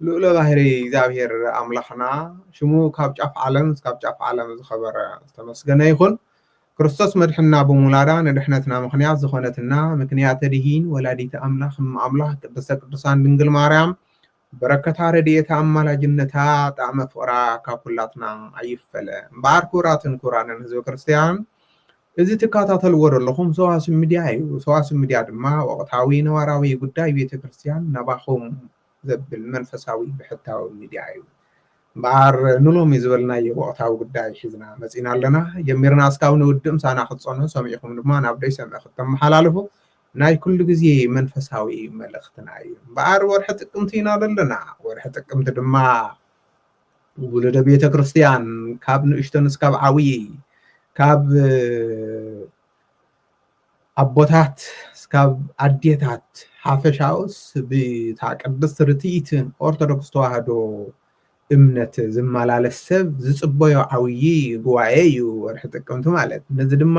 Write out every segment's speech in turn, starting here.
ልኡለ ባህሪ እግዚኣብሔር ኣምላኽና ሽሙ ካብ ጫፍ ዓለም እስካብ ጫፍ ዓለም ዝኸበረ ዝተመስገነ ይኹን። ክርስቶስ መድሕንና ብምውላዳ ንድሕነትና ምኽንያት ዝኾነትና ምክንያተ ድኂን ወላዲተ ኣምላኽ እመ ኣምላኽ ቅድስተ ቅዱሳን ድንግል ማርያም በረከታ ረድኤታ ኣማላጅነታ ጣዕመ ፍቕራ ካብ ኩላትና ኣይፈለ። እምበኣር ክቡራትን ክቡራንን ህዝበ ክርስቲያን እዚ ትከታተልዎ ዘለኹም ሰዋስው ሚድያ እዩ። ሰዋስው ሚድያ ድማ ወቕታዊ ነባራዊ ጉዳይ ቤተ ክርስቲያን ናባኹም ዘብል መንፈሳዊ ብሕታዊ ሚድያ እዩ። እምበኣር ንሎሚ ዝበልናዮ ወቕታዊ ጉዳይ ሒዝና መጺእና ኣለና። ጀሚርና እስካብ ንውድእ ምሳና ክትጸንሑ ሰሚዕኩም ድማ ናብ ደይሰምዕ ክተመሓላልፉ ናይ ኩሉ ግዜ መንፈሳዊ መልእኽትና እዩ። እምበኣር ወርሒ ጥቅምቲ ኢና ዘለና። ወርሒ ጥቅምቲ ድማ ውሉደ ቤተ ክርስቲያን ካብ ንእሽቶን እስካብ ዓብዪ ካብ ኣቦታት ስካብ ኣዴታት ሓፈሻውስ ብታ ቅድስት ርትኢትን ኦርቶዶክስ ተዋህዶ እምነት ዝመላለስ ሰብ ዝጽበዮ ዓብዪ ጉባኤ እዩ ወርሒ ጥቅምቲ ማለት ነዚ ድማ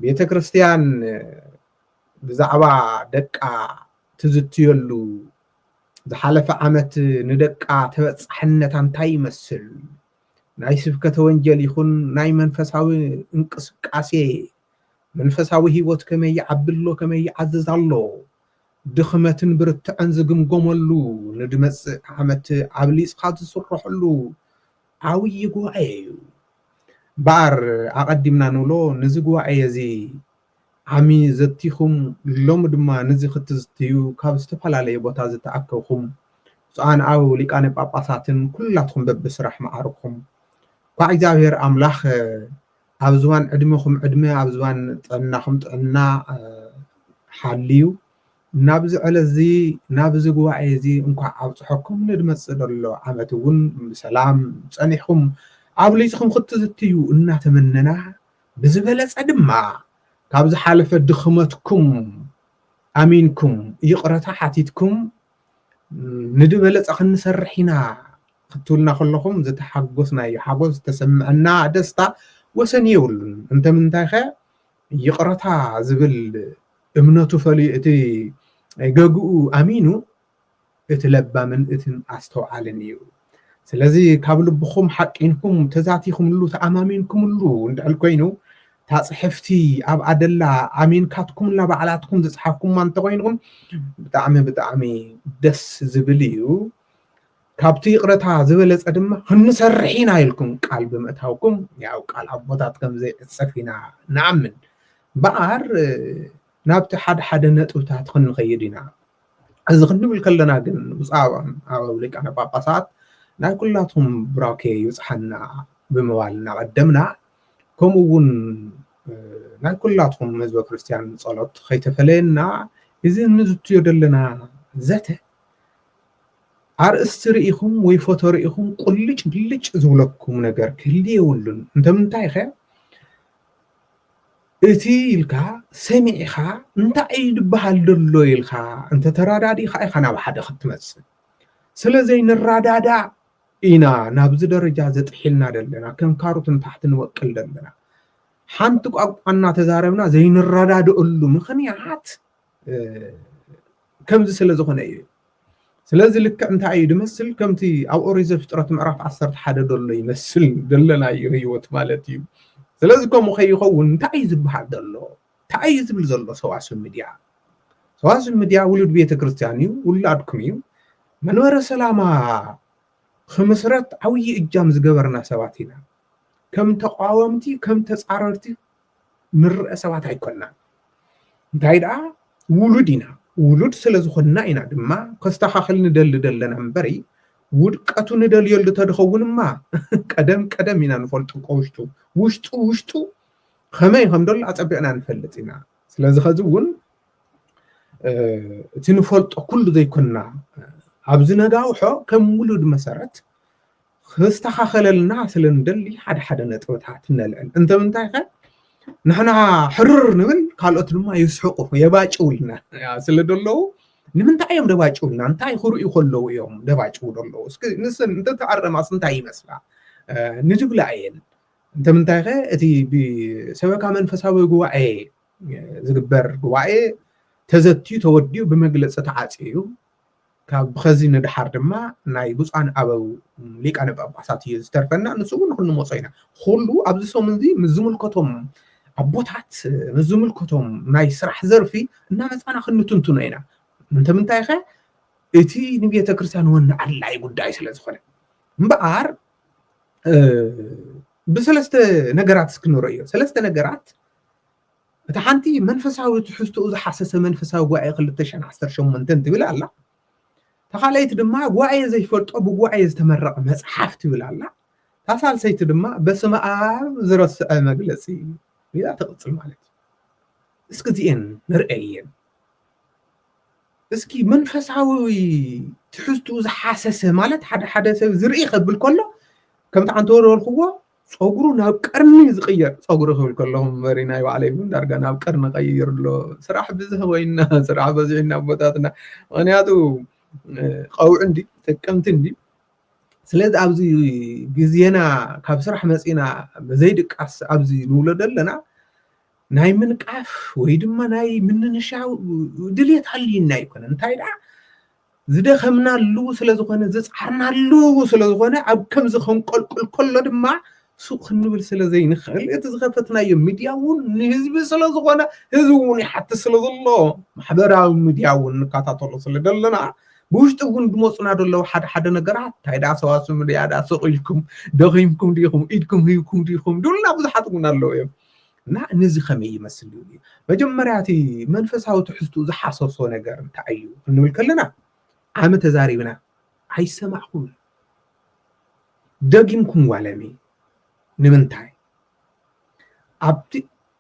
ቤተ ክርስቲያን ብዛዕባ ደቃ ትዝትየሉ ዝሓለፈ ዓመት ንደቃ ተበጻሕነታ እንታይ ይመስል ናይ ስብከተ ወንጌል ይኹን ናይ መንፈሳዊ እንቅስቃሴ መንፈሳዊ ህይወት ከመይ ይዓቢ ኣሎ ከመይ ይዓዝዝ ኣሎ ድኽመትን ብርትዐን ዝግምገመሉ ንድመጽእ ዓመት ኣብሊጽካ ዝስረሐሉ ዓብዪ ጉባኤ እዩ እምበኣር ኣቐዲምና ንብሎ ነዚ ጉባኤ እዚ ዓሚ ዘቲኹም ሎሚ ድማ ንዚ ክትዝትዩ ካብ ዝተፈላለየ ቦታ ዝተኣከብኩም ብፁዓን ኣበው ሊቃነ ጳጳሳትን ኩላትኩም በብስራሕ መዓርግኩም እኳዕ እግዚኣብሔር ኣምላኽ ኣብ ዝባን ዕድመኹም ዕድመ ኣብ ዝባን ጥዕናኹም ጥዕና ሓልዩ ናብዚ ዕለት እዚ ናብዚ ጉባኤ እዚ እንኳዕ ኣብፅሐኩም ንድመፅእ ዘሎ ዓመት እውን ብሰላም ፀኒሕኩም ኣብሊፅኩም ክትዝትዩ እናተመነና ብዝበለጸ ድማ ካብ ዝሓለፈ ድኽመትኩም ኣሚንኩም ይቕረታ ሓቲትኩም ንድበለጸ ክንሰርሕ ኢና ክትብሉና ከለኹም ዝተሓጎስናዮ ሓጎስ ዝተሰምዐና ደስታ ወሰን የብሉን። እንተምንታይኸ ይቕረታ ዝብል እምነቱ ፈልዩ እቲ ገግኡ ኣሚኑ እቲ ለባምን እትን ኣስተውዓልን እዩ ስለዚ ካብ ልብኹም ሓቂንኩም ተዛቲኹምሉ ተኣማሚንኩምሉ እንድሕል ኮይኑ እታ ፅሕፍቲ ኣብ ኣደላ ኣሚንካትኩምላ ባዕላትኩም ዝፅሓፍኩማ እንተኮይንኹም ብጣዕሚ ብጣዕሚ ደስ ዝብል እዩ ካብቲ ይቕረታ ዝበለፀ ድማ ክንሰርሕ ኢና ኢልኩም ቃል ብምእታውኩም ያው ቃል ኣቦታት ከም ዘይዕፀፍ ኢና ንኣምን እምበኣር ናብቲ ሓደ ሓደ ነጥብታት ክንኸይድ ኢና እዚ ክንብል ከለና ግን ብዛዕባም ኣብ ሊቃነ ጳጳሳት ናይ ኩላቶም ብራኬ ይብጽሓና ብምባል እናቐደምና ከምኡ እውን ናይ ኩላትኩም ህዝበ ክርስትያን ጸሎት ከይተፈለየና እዚ እንዝትዮ ዘለና ዘተ ኣርእስቲ ርኢኹም ወይ ፎቶ ርኢኹም ቁልጭ ብልጭ ዝብለኩም ነገር ክህሊ የብሉን እንተምንታይ ከ እቲ ኢልካ ሰሚዕኻ እንታይ እዩ ዝበሃል ዘሎ ኢልካ እንተተረዳዲእካ ኢኻ ናብ ሓደ ክትመፅእ ስለዘይንረዳዳእ ኢና ናብዚ ደረጃ ዘጥሒልና ዘለና ከም ካሮት ንታሕቲ ንበቅል ዘለና ሓንቲ ቋንቋ እናተዛረብና ዘይንረዳድእሉ ምኽንያት ከምዚ ስለ ዝኾነ እዩ ስለዚ ልክዕ እንታይ እዩ ድመስል ከምቲ ኣብ ኦሪት ዘፍጥረት ምዕራፍ ዓሰርተ ሓደ ደሎ ይመስል ደለናዮ ህይወት ማለት እዩ ስለዚ ከምኡ ከይኸውን እንታይ እዩ ዝበሃል ዘሎ እንታይ እዩ ዝብል ዘሎ ሰዋስብ ሚድያ ሰዋስብ ሚድያ ውሉድ ቤተ ክርስቲያን እዩ ውላድኩም እዩ መንበረ ሰላማ ክምስረት ዓብዪ እጃም ዝገበርና ሰባት ኢና ከም ተቃወምቲ ከም ተፃረርቲ ንረኣ ሰባት ኣይኮናን እንታይ ደኣ ውሉድ ኢና ውሉድ ስለ ዝኾንና ኢና ድማ ከስተኻኽል ንደሊ ዘለና እምበሪ ውድቀቱ ንደልየሉ ተድኸውንማ ቀደም ቀደም ኢና ንፈልጡ ከውሽጡ ውሽጡ ውሽጡ ከመይ ከም ደሎ ኣጸቢቕና ንፈልጥ ኢና ስለዚ ከዚ እውን እቲ ንፈልጦ ኩሉ ዘይኮንና ኣብዚ ነጋውሖ ከም ውሉድ መሰረት ክስተኻኸለልና ስለ ንደሊ ሓደ ሓደ ነጥብታት ነልዕል እንተ ምንታይከ ንሕና ሕርር ንብል ካልኦት ድማ ይስሕቁ የባጭውልና ስለ ደለዉ ንምንታይ እዮም ደባጭውልና እንታይ ክርእዩ ከለዉ እዮም ደባጭው ደለዉ እስኪ ንስን እንተተኣረማስ እንታይ ይመስላ ንድብላ እየን እንተ ምንታይከ እቲ ብሰበካ መንፈሳዊ ጉባኤ ዝግበር ጉባኤ ተዘትዩ ተወዲኡ ብመግለፂ ተዓፅዩ ካብ ብኸዚ ንደሓር ድማ ናይ ብፁዓን ኣበው ሊቃነ ጳጳሳት እዩ ዝተርፈና፣ ንሱ እውን ክንሞጾ ኢና። ኹሉ ኣብዚ ሰሙን እዚ ምስ ዝምልከቶም ኣቦታት ምስ ዝምልከቶም ናይ ስራሕ ዘርፊ እናመጻና ክንትንትኖ ኢና። እንተምንታይኸ እቲ ንቤተ ክርስቲያን ወኒ ኣድላይ ጉዳይ ስለ ዝኾነ እምበኣር ብሰለስተ ነገራት እስክንረዮ ሰለስተ ነገራት እታ ሓንቲ መንፈሳዊ ትሕዝቶኡ ዝሓሰሰ መንፈሳዊ ጉባኤ ክልተ ሽሕን ዓሰርተ ሸሞንተን ትብል ኣላ። እታ ካልኣይቲ ድማ ጉባኤ ዘይፈልጦ ብጉባኤ ዝተመረቐ መጽሓፍ ትብል ኣላ። እታ ሳልሰይቲ ድማ በስመ ኣብ ዝረስዐ መግለጺ ኢላ ትቕጽል ማለት እዩ። እስኪ እዚኤን ንርአየን። እስኪ መንፈሳዊ ትሕዝትኡ ዝሓሰሰ ማለት ሓደ ሓደ ሰብ ዝርኢ ከብል ከሎ ከምቲ ኣንተ ወርወርክዎ ፀጉሩ ናብ ቀርኒ ዝቅየር ፀጉሪ ክብል ከለኹ እምበሪ ናይ ባዕለይ እውን ዳርጋ ናብ ቀርኒ ቀይር ኣሎ ስራሕ ብዝሕ ኮይና ስራሕ በዚሕና ኣቦታትና ምክንያቱ ቀውዒ እንዲ ጥቅምቲ እንዲ ስለዚ ኣብዚ ግዜና ካብ ስራሕ መፂና ብዘይድቃስ ኣብዚ ንብሎ ዘለና ናይ ምንቃፍ ወይ ድማ ናይ ምንንሻው ድሌት ሃልዩና ኣይኮነን እንታይ ደኣ ዝደኸምናሉ ስለ ዝኾነ ዝጸዓርናሉ ስለ ዝኾነ ኣብ ከምዚ ከንቆልቁል ከሎ ድማ ሱቕ ክንብል ስለ ዘይንኽእል እቲ ዝኸፈትናዮ ሚድያ እውን ንህዝቢ ስለ ዝኾነ ህዝቢ እውን ይሓትት ስለ ዘሎ ማሕበራዊ ሚድያ እውን ንከታተሎ ስለ ዘለና ብውሽጢ እውን ዝመፁና ዘለዉ ሓደ ሓደ ነገራት እንታይ ዳ ሰዋስም ድያ ዳ ሱቕ ኢልኩም ደኺምኩም ዲኹም ኢድኩም ሂብኩም ዲኹም ድብሉና ብዙሓት እውን ኣለዉ እዮም እና ነዚ ከመይ ይመስል እዩ መጀመርያ እቲ መንፈሳዊ ትሕዝትኡ ዝሓሰሶ ነገር እንታይ እዩ እንብል ከለና ዓመ ተዛሪብና ኣይሰማዕኹም ደጊምኩም ዋለሚ ንምንታይ ኣብቲ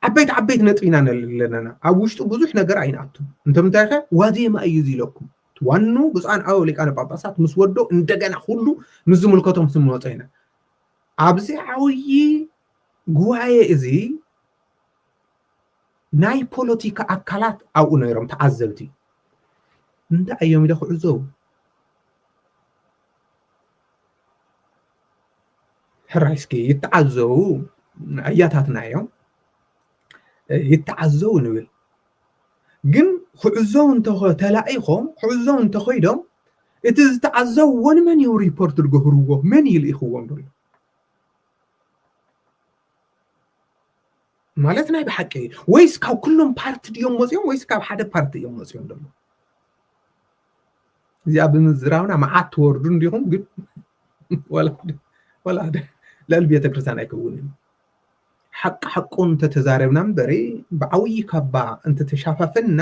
ዓበይቲ ዓበይቲ ነጥቢ ኢና ዘለና ኣብ ውሽጡ ብዙሕ ነገር ኣይንኣቱ እንተምንታይ ከ ዋዜማ እዩ እዚ ኢለኩም ዋኑ ብፁዓን ኣበው ሊቃነ ጳጳሳት ምስ ወዶ እንደገና ኩሉ ምስ ዝምልከቶም ስንመፆ ኢና ኣብዚ ዓብዪ ጉባኤ እዚ ናይ ፖለቲካ ኣካላት ኣብኡ ነይሮም ተዓዘብቲ እንታይ እዮም ኢለ ክዕዘቡ ሕራይ እስኪ ይተዓዘቡ ኣያታትና እዮም ይተዓዘቡ ንብል ግን ክዕዘቡ እንተኸ ተላኢኾም ክዕዘቡ እንተኸይዶም እቲ ዝተዓዘብዎ ንመን እዮም ሪፖርት ዝገብርዎ መን ይልኢኽዎም ዘሎ ማለት ናይ ብሓቂ ወይስ ካብ ኩሎም ፓርቲ ድዮም ወፂኦም ወይስ ካብ ሓደ ፓርቲ እዮም ወፂኦም ደሎ እዚኣ ብምዝራብና መዓት ትወርዱ እንዲኹም ግን ወላ ልዕሊ ቤተክርስትያን ኣይከውን እዩ ሓቂ ሓቁ እንተተዛረብና እምበሪ ብዓብዪ ካባ እንተተሻፋፈንና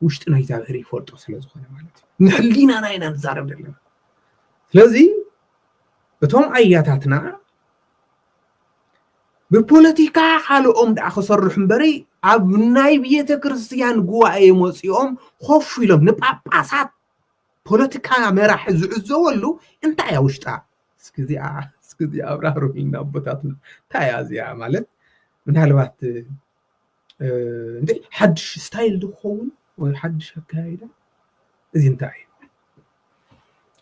ውሽጢ ናይ እግዚኣብሔር ይፈልጦ ስለዝኾነ ማለት እዩ ንሕሊናና ኢና ንዛረብ ዘለና ስለዚ እቶም ኣያታትና ብፖለቲካ ካልኦም ደኣ ክሰርሑ እምበሪ ኣብ ናይ ቤተ ክርስትያን ጉባኤ መፂኦም ኮፍ ኢሎም ንጳጳሳት ፖለቲካ መራሒ ዝዕዘበሉ እንታይ እያ ውሽጣ እስኪ እዚኣ እስኪ እዚኣ ኣብራህሩልና ኣቦታትና እንታይ እያ እዚኣ ማለት ምናልባት እንዴ ሓድሽ ስታይል ድኸውን ወይ ሓድሽ ኣካያይዳ እዚ እንታይ እዩ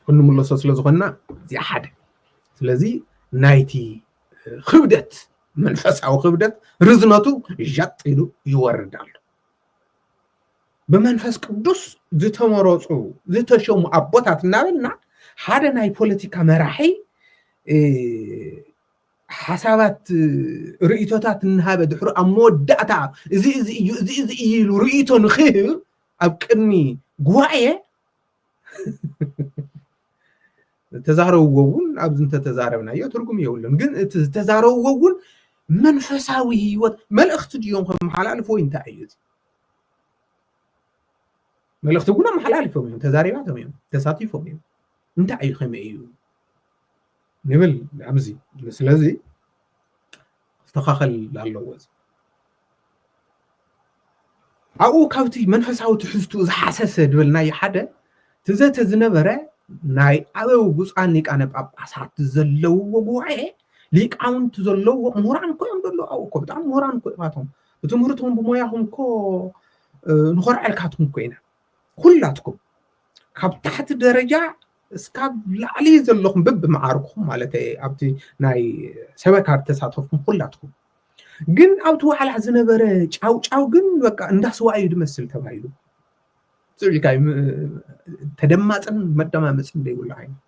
ክንምለሶ ስለ ዝኾንና እዚኣ ሓደ ስለዚ ናይቲ ክብደት መንፈሳዊ ክብደት ርዝነቱ ዣጥ ኢሉ ይወርድ ኣሎ ብመንፈስ ቅዱስ ዝተመረፁ ዝተሸሙ ኣቦታት እናበልና ሓደ ናይ ፖለቲካ መራሒ ሓሳባት ርእይቶታት እናሃበ ድሕሩ ኣብ መወዳእታ እዚ እዚ እዩ እዚ እዚ እዩ ኢሉ ርእይቶ ንክህብ ኣብ ቅድሚ ጉባኤ ዝተዛረብዎ እውን ኣብዚ እንተተዛረብናዮ ትርጉም የብሉን ግን እቲ ዝተዛረብዎ እውን መንፈሳዊ ህይወት መልእኽቲ ድዮም ከመሓላልፍ ወይ እንታይ እዩ እዚ መልእኽቲ እውን ኣመሓላልፎም እዮም ተዛሪባቶም እዮም ተሳቲፎም እዮም እንታይ እዩ ከመይ እዩ ንብል ኣብዚ ስለዚ ክስተኻኸል ኣለዎ እዚ ኣብኡ ካብቲ መንፈሳዊ ትሕዝትኡ ዝሓሰሰ ዝበልናዮ ሓደ እቲ ዘተ ዝነበረ ናይ ኣበው ብፁዓን ሊቃነ ጳጳሳት ዘለውዎ ጉባኤ ሊቃውንቲ ዘለዎ ምሁራን እኮ እዮም ዘለዉ ኣብኡ እኮ ብጣዕሚ ምሁራን እኮ እባቶም ብትምህርትኩም ብሞያኹም እኮ ንኾርዐልካትኩም እኮ ኢና ኩላትኩም ካብ ታሕቲ ደረጃ እስካብ ላዕሊ ዘለኹም ብብመዓርግኹም ማለት ኣብቲ ናይ ሰበካ ተሳተፍኩም ኩላትኩም ግን ኣብቲ ዋዕላ ዝነበረ ጫውጫው ግን በቃ እንዳስዋ እዩ ዝመስል ተባሂሉ ፅዒካ ተደማፅን መደማመፅን ዘይብሉ ዓይነት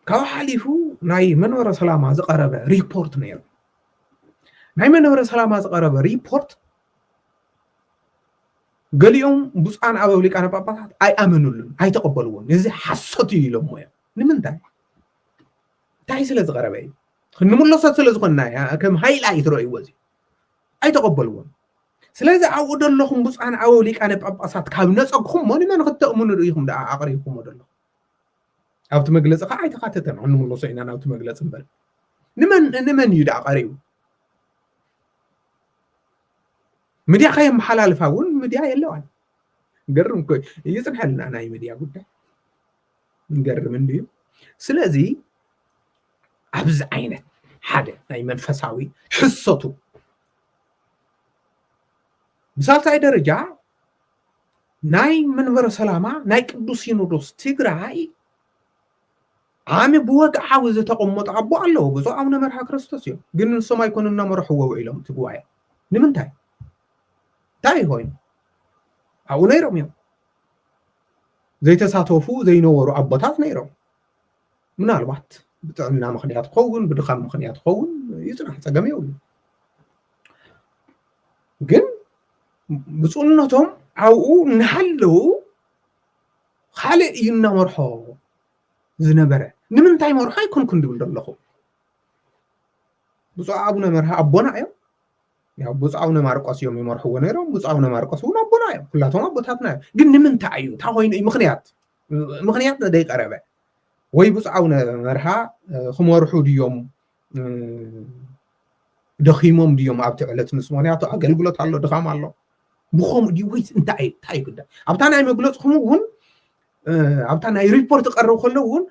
ካብ ሓሊፉ ናይ መንበረ ሰላማ ዝቀረበ ሪፖርት ነይሩ ናይ መንበረ ሰላማ ዝቐረበ ሪፖርት ገሊኦም ብፁዓን ኣበው ሊቃነ ጳጳሳት ኣይኣመኑሉን ኣይተቐበልዎን እዚ ሓሶት እዩ ኢሎሞ እዮም ንምንታይ እንታይ ስለ ዝቐረበ እዩ ክንምለሶ ስለ ዝኾንና ከም ሃይላ እዩ ትረእይዎ እዚ ኣይተቐበልዎን ስለዚ ኣብኡ ዘለኹም ብፁዓን ኣበው ሊቃነ ጳጳሳት ካብ ነፀግኹም ሞ ንመን ክተእምኑ ርኢኹም ደኣ ኣቕሪብኩሞ ዘለኹም ኣብቲ መግለፂ ከዓ ኣይተካተተን ክንምለሶ ኢና ናብቲ መግለፂ እምበር ንመን ንመን እዩ ደኣ ቀሪቡ ምድያ ከየመሓላልፋ እውን ምድያ የለዋን ገርም ኮ ይፅንሐልና ናይ ምድያ ጉዳይ ገርም እንድዩ ስለዚ ኣብዚ ዓይነት ሓደ ናይ መንፈሳዊ ሕሰቱ ብሳልሳይ ደረጃ ናይ መንበረ ሰላማ ናይ ቅዱስ ሲኖዶስ ትግራይ ዓሚ ብወግዓዊ ዝተቐመጡ ኣቦ ኣለዎ ብፁዕ ኣቡነ መርሃ ክርስቶስ እዮም ግን ንሶም ኣይኮኑ እናመርሕዎ ውዒሎም እቲ ጉባኤ ንምንታይ እንታይ ኮይኑ ኣብኡ ነይሮም እዮም ዘይተሳተፉ ዘይነበሩ ኣቦታት ነይሮም ምናልባት ብጥዕና ምክንያት ክኸውን ብድኻም ምክንያት ክኸውን ይፅናሕ ፀገም የብሉ ግን ብፁዕነቶም ኣብኡ እናሃለዉ ካልእ እዩ እናመርሖ ዝነበረ ንምንታይ መርሖ ኣይኮንኩን ድብል ዘለኹ ብፁዕ ኣቡነ መርሃ ኣቦና እዮም ያው ብፁዕ ኣቡነ ማርቆስ እዮም ይመርሕዎ ነይሮም ብፁዕ ኣቡነ ማርቆስ እውን ኣቦና እዮም ኩላቶም ኣቦታትና እዮም ግን ንምንታይ እዩ እንታ ኮይኑ እዩ ምክንያት ምክንያት ዘይቀረበ ወይ ብፁዕ ኣቡነ መርሃ ክመርሑ ድዮም ደኺሞም ድዮም ኣብቲ ዕለት ምስ ምክንያቱ ኣገልግሎት ኣሎ ድኻም ኣሎ ብከምኡ ድዩ ወይስ እንታይ እንታይ እዩ ጉዳይ ኣብታ ናይ መግለፅኹም እውን ኣብታ ናይ ሪፖርት ቀርብ ከሎ እውን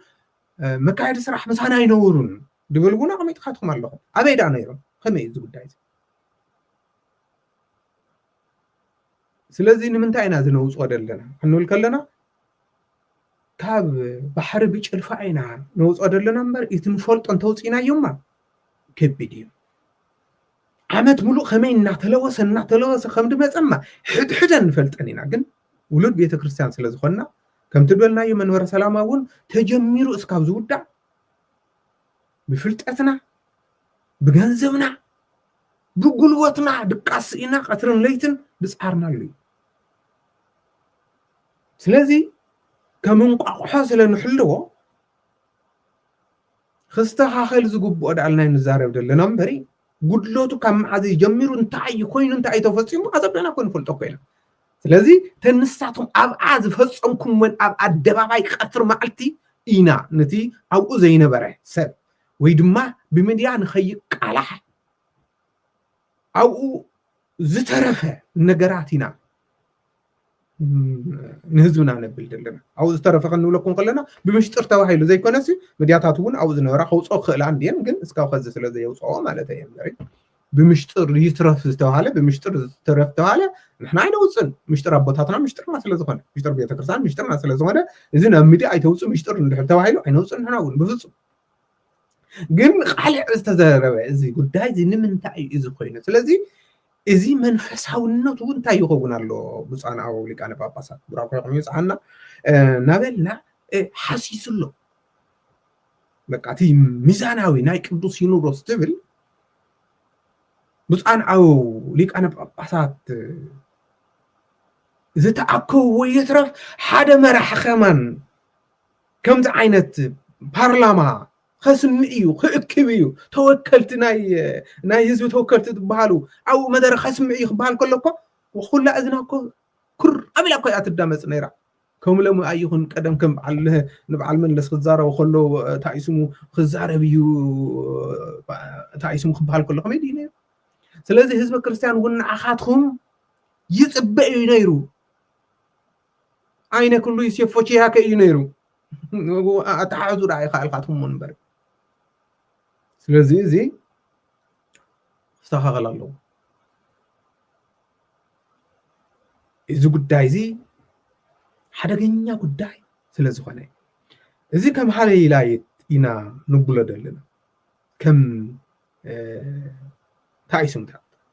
መካየዲ ስራሕ ምሳና ኣይነብሩን ድብል እውን ኣቐሚጥካትኩም ኣለኹም ኣበይ ዳ ነይሮም ከመይ እዩ እዚ ጉዳይ እዚ ስለዚ ንምንታይ ኢና እዚ ነውፅኦ ዘለና ክንብል ከለና ካብ ባሕሪ ብጭልፋ ኢና ነውፅኦ ዘለና እምበር እቲ ንፈልጦ እንተውፂእናዮማ ከቢድ እዩ ዓመት ሙሉእ ከመይ እናተለወሰ እናተለወሰ ከም ድመፀማ ሕድሕደ ንፈልጠን ኢና ግን ውሉድ ቤተ ክርስቲያን ስለ ዝኾንና ከምቲ በልናዮ መንበረ ሰላማ እውን ተጀሚሩ እስካብ ዝውዳእ ብፍልጠትና ብገንዘብና ብጉልበትና ድቃስ ስኢና ቀትርን ለይትን ዝጸዓርናሉ እዩ። ስለዚ ከም እንቋቑሖ ስለ ንሕልዎ ክስተኻኸል ዝግብኦ ድኣ ኢልና ንዛረብ ዘለና እምበሪ ጉድለቱ ካብ መዓዝ እዩ ጀሚሩ እንታይ እዩ ኮይኑ እንታይ እዩ ተፈፂሙ ኣዘብለና ኮ ንፈልጦ እኮ ኢና ስለዚ እተን ንሳቶም ኣብኣ ዝፈፀምኩምወን ኣብ ኣደባባይ ቀትሪ መዓልቲ ኢና ነቲ ኣብኡ ዘይነበረ ሰብ ወይ ድማ ብምድያ ንኸይቃላሕ ኣብኡ ዝተረፈ ነገራት ኢና ንህዝብና ነብል ዘለና ኣብኡ ዝተረፈ ክንብለኩም ከለና ብምሽጥር ተባሂሉ ዘይኮነሲ ምድያታት እውን ኣብኡ ዝነበራ ከውፅኦ ክኽእላ እንድየን ግን እስካብ ከዚ ስለ ዘየውፅኦ ማለት እየ እምበሪ ብምሽጥር ይትረፍ ዝተባሃለ ብምሽጥር ዝተረፍ ተባሃለ ንሕና ኣይነውፅን ምሽጥር ኣቦታትና ምሽጥርና ስለ ዝኾነ ምሽጥር ቤተክርስትያን ምሽጥርና ስለ ዝኾነ እዚ ናብ ሚድያ ኣይተውፅእ ምሽጥር እንድሕር ተባሂሉ ኣይነውፅን ንሕና እውን ብፍፁም ግን ቃልዕ ዝተዘረበ እዚ ጉዳይ እዚ ንምንታይ እዩ እዚ ኮይኑ ስለዚ እዚ መንፈሳውነቱ እንታይ ይኸውን ኣሎ ብፁዓን ኣበው ሊቃነ ጳጳሳት ቡራኮኹም ይብፅሓና ናበልና ሓሲሱ ኣሎ በቃ እቲ ሚዛናዊ ናይ ቅዱስ ሲኖዶስ ትብል ብፁዓን ኣበው ሊቃነ ጳጳሳት ዝተኣከብዎ ይትረፍ ሓደ መራሒ ከማን ከምዚ ዓይነት ፓርላማ ከስምእ እዩ ክእክብ እዩ ተወከልቲ ናይ ህዝቢ ተወከልቲ ዝበሃሉ ኣብኡ መደረ ከስምዕ እዩ ክበሃል ከሎ እኮ ኩላ እዝና እኮ ኩር ኣቢላ እኮ እያ ትዳመፅ ነይራ ከም ሎሚ ኣይኹን ቀደም ከም በዓል ንበዓል መለስ ክዛረቡ ከሎ እንታይ እዩ ስሙ ክዛረብ እዩ እንታይ እዩ ስሙ ክበሃል ከሎ ከመይ ድዩ ነይሩ ስለዚ ህዝቢ ክርስቲያን እውን ንዓኻትኩም ይፅበ እዩ ነይሩ ኣይነ ክሉ ይሴፎ ቺሃከ እዩ ነይሩ ኣተሓሕዙ ደኣ ይኸኣልካትኩም እምበር ስለዚ እዚ ክስተኻኸል ኣለዎ እዚ ጉዳይ እዚ ሓደገኛ ጉዳይ ስለ ዝኾነ እዚ ከም ሃለይላይት ኢና ንብሎ ዘለና ከም እንታይ እዩ ስምካ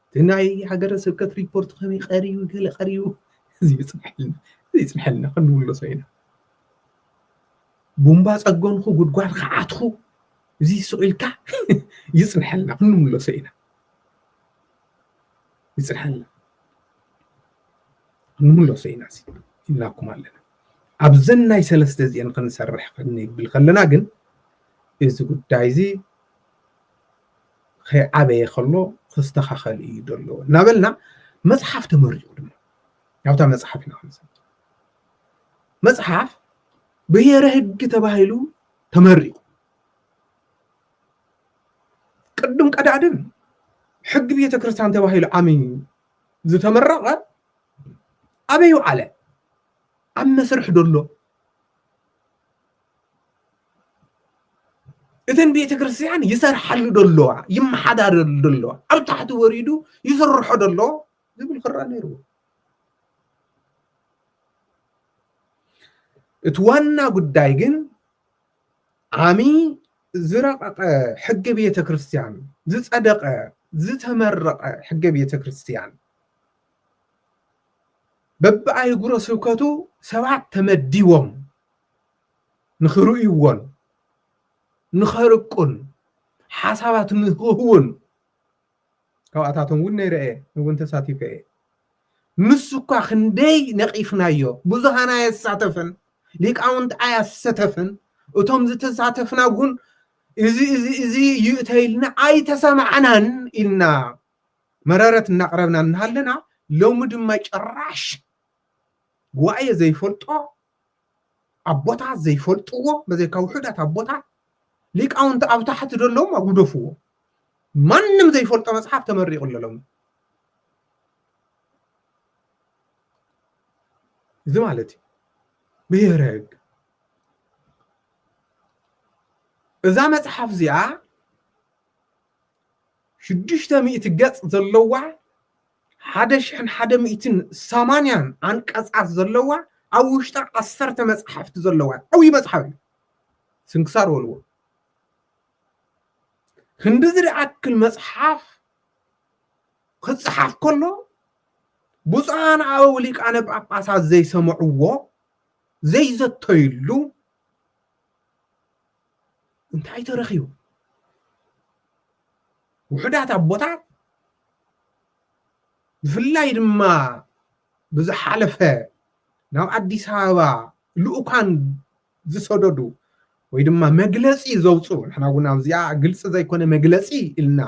እቲ ናይ ሃገረ ስብከት ሪፖርት ከመይ ቀሪቡ ገለ ቀሪቡ እዚ ይፅንሐልና እዚ ይፅንሐልና ክንምለሶ ኢና ቡምባ ፀገንኹ ጉድጓድ ከዓትኹ እዚ ስቂልካ ይፅንሐልና ክንምለሶ ኢና ይፅንሐልና ክንምለሶ ኢና ኢልናኩም ኣለና ኣብዘን ናይ ሰለስተ እዚአን ክንሰርሕ ክንብል ከለና ግን እዚ ጉዳይዚ ከይዓበየ ከሎ ክስተኻኸል እዩ ደሎ እናበልና መፅሓፍ ተመሪቑ ድማ ኣብታ መፅሓፍ ኢና ክንሰ መፅሓፍ ብሄረ ህግ ተባሂሉ ተመሪቑ ቅድም ቀዳድም ሕጊ ቤተ ክርስቲያን ተባሂሉ ዓሚን ዝተመረቐ ኣበይ ውዓለ ኣብ መስርሕ ደሎ እተን ቤተ ክርስቲያን ይሰርሓሉ ዶ ኣለዋ ይመሓዳረሉ ዶ ኣለዋ ኣብ ታሕቲ ወሪዱ ይስርሖ ዶ ኣለዎ ዝብል ክረኣ ነይርዎ እቲ ዋና ጉዳይ ግን ዓሚ ዝረቐቐ ሕገ ቤተ ክርስቲያን ዝፀደቐ ዝተመረቐ ሕገ ቤተ ክርስቲያን በብኣህጉረ ስብከቱ ሰባት ተመዲቦም ንኽርእይዎን ንኸርቁን ሓሳባት ንኽህቡን ካብኣታቶም እውን ነይረ እየ እውን ተሳቲፈ እየ ንሱ እኳ ክንደይ ነቒፍናዮ ብዙሃን ኣየሳተፈን ሊቃውንቲ ኣያሰተፍን እቶም ዝተሳተፍና እውን እዚ እዚ እዚ እዩ እተኢልና ኣይተሰማዕናን ኢልና መረረት እናቕረብና እናሃለና ሎሚ ድማ ጭራሽ ጉባኤ ዘይፈልጦ ኣቦታት ዘይፈልጥዎ በዘይካ ውሑዳት ኣቦታት ሊቃውንቲ ኣብ ታሕቲ ዘለዎም ኣጉደፍዎ ማንም ዘይፈልጦ መፅሓፍ ተመሪቑ ኣለሎም እዚ ማለት እዩ ብሄረ ህግ እዛ መፅሓፍ እዚኣ ሽዱሽተ ሚእቲ ገጽ ዘለዋ ሓደ ሽሕን ሓደ ሚእትን ሰማንያን ኣንቀጻት ዘለዋ ኣብ ውሽጣ ዓሰርተ መጻሕፍቲ ዘለዋ ዓብዪ መጽሓፍ እዩ ስንክሳር ወልዎ ክንዲ ዝኣክል መጽሓፍ ክጽሓፍ ከሎ ብፁዓን ኣበው ሊቃነ ጳጳሳት ዘይሰምዕዎ ዘይዘተይሉ እንታይ ተረኺቡ? ውሑዳት ኣቦታት ብፍላይ ድማ ብዝሓለፈ ናብ ኣዲስ ኣበባ ልኡካን ዝሰደዱ ወይ ድማ መግለፂ ዘውፅኡ ንሕና እውን ኣብዚኣ ግልፂ ዘይኮነ መግለፂ ኢልና